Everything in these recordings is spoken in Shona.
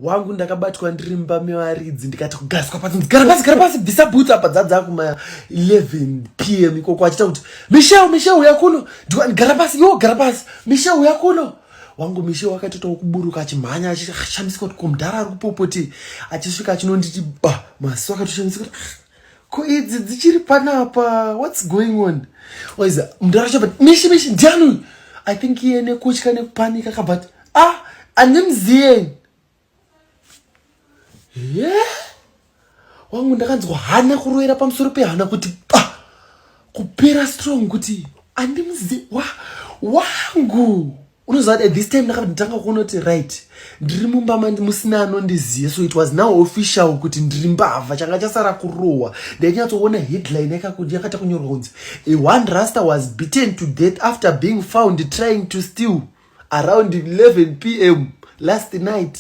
wangu ndakabatwa ndiri mumba mevaridzi ndikati kugaswa pasi gara pasi gara pasi bvisa bhutsu apa dzadza kuma 11 p m ikoko achiita kuti mishel mishel uya kuno ndikati gara pasi iwo gara pasi mishel uya kuno wangu mishel wakatoitawo kuburuka achimhanya achishamisika kuti ko mudhara ari kupopoti achisvika achinonditi ba maziso akatoshamisa kuti ah, ko idzi dzichiri panapa whats going on waiza mndu aracho but mishi mishi ndiani uyu i think iye nekutya nekupanika ka but ah andimziyeni ye yeah. wangu ndakanzwa hana kuroera pamusoro pehana kuti pa ah, kupera strong kuti andimuzi wa wangu unoziva kuti at this time ndakabva nditanga kuona kuti right ndiri mumba mandi musina anondiziva so it was now official kuti ndiri mbavha changa chasara kurohwa ndainyatsoona headline yakata kunyorwa kunzi a one raster was beaten to death after being found trying to steal around 11 p m last night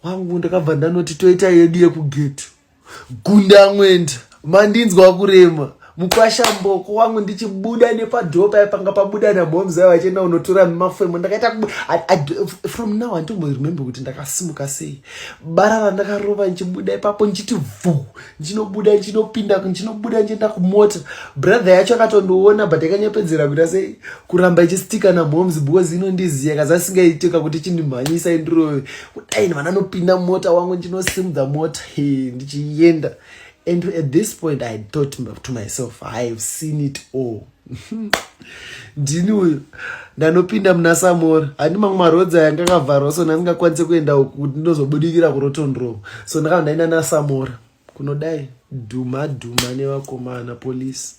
wangu ndakabva ndanoti toita yedu yekugeti gunda amwenda mandinzwa kurema mukwasha mboko wangu ndichibuda nepadhoo paye panga pabuda namomzai vachienda unotora mafemo ndakaita from now anditombo remember kuti ndakasimuka sei bara randakarova ndichibuda ipapo ndichiti vhu ndinobuda ndinopinda ndinobuda ndienda kumota brother yacho akatondiona but akanyepedzera kuita sei kuramba ichistika namoms because inondiziva kazi asingaitika kuti chindimhanyisa indirove kudai vanhu anopinda mota wangu ndinosimudza mota he ndichienda and at this point i thought to myself i have seen it all ndini uyu ndanopinda muna samora handi mamwe marodzi aya ngakavharwa so ndandingakwanise kuenda uku kuti ndinozobudikira kurotondrova so ndakava ndaina nasamora kunodai dhuma dhuma nevakomana polisi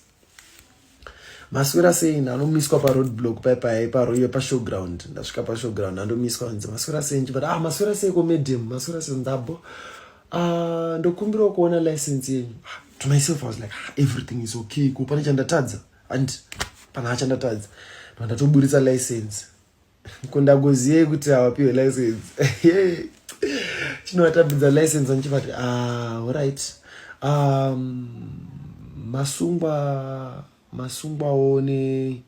maswera sei ndanomiswa paroad block paipai paroiwe pashowground ndasvika pashowground ndandomiswa nzi maswera sei nchiva ah maswera sei komedem maswera sei ndabo ah, ndokumbirawo kuona license yenyu ah, to myself i was like ah, everything is okay ko pane chandatadza and pana hachandatadza no ndatoburitsa license ko ndagoziyei kuti havapiwe license chinovatambidza license andichivati ah, orit um, masungwa masungwawo ne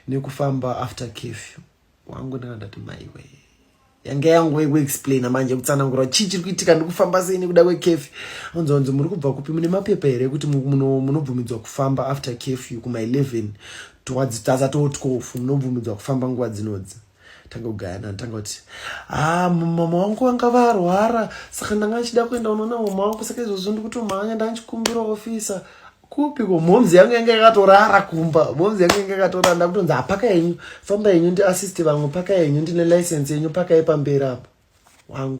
nekufamba after cafew wangu ndanga ndati maiwe yange yangu yekuexplaina manje kutsanangura chii chiri kuitika ndikufamba sei nekuda kwekefi anzi anzi muri kubva kupi mune mapepa here ekuti munobvumidzwa kufamba after kefi kuma 11 towards tasa to 12 munobvumidzwa kufamba nguva dzinodzi tanga kugayana tanga kuti ha ah, mama wangu vanga varwara saka ndanga ndichida kuenda unoona mama wangu saka izvozvo ndikutomhanya ndanga ndichikumbira ofisa kupi ko momzi yangu yanga yakatorara kumba momzi yangu yanga yakatorara ndakutonzi hapaka yenyu famba yenyu ndiassist vamwe paka yenyu ndine license yenyu pakai pamberi apo wangu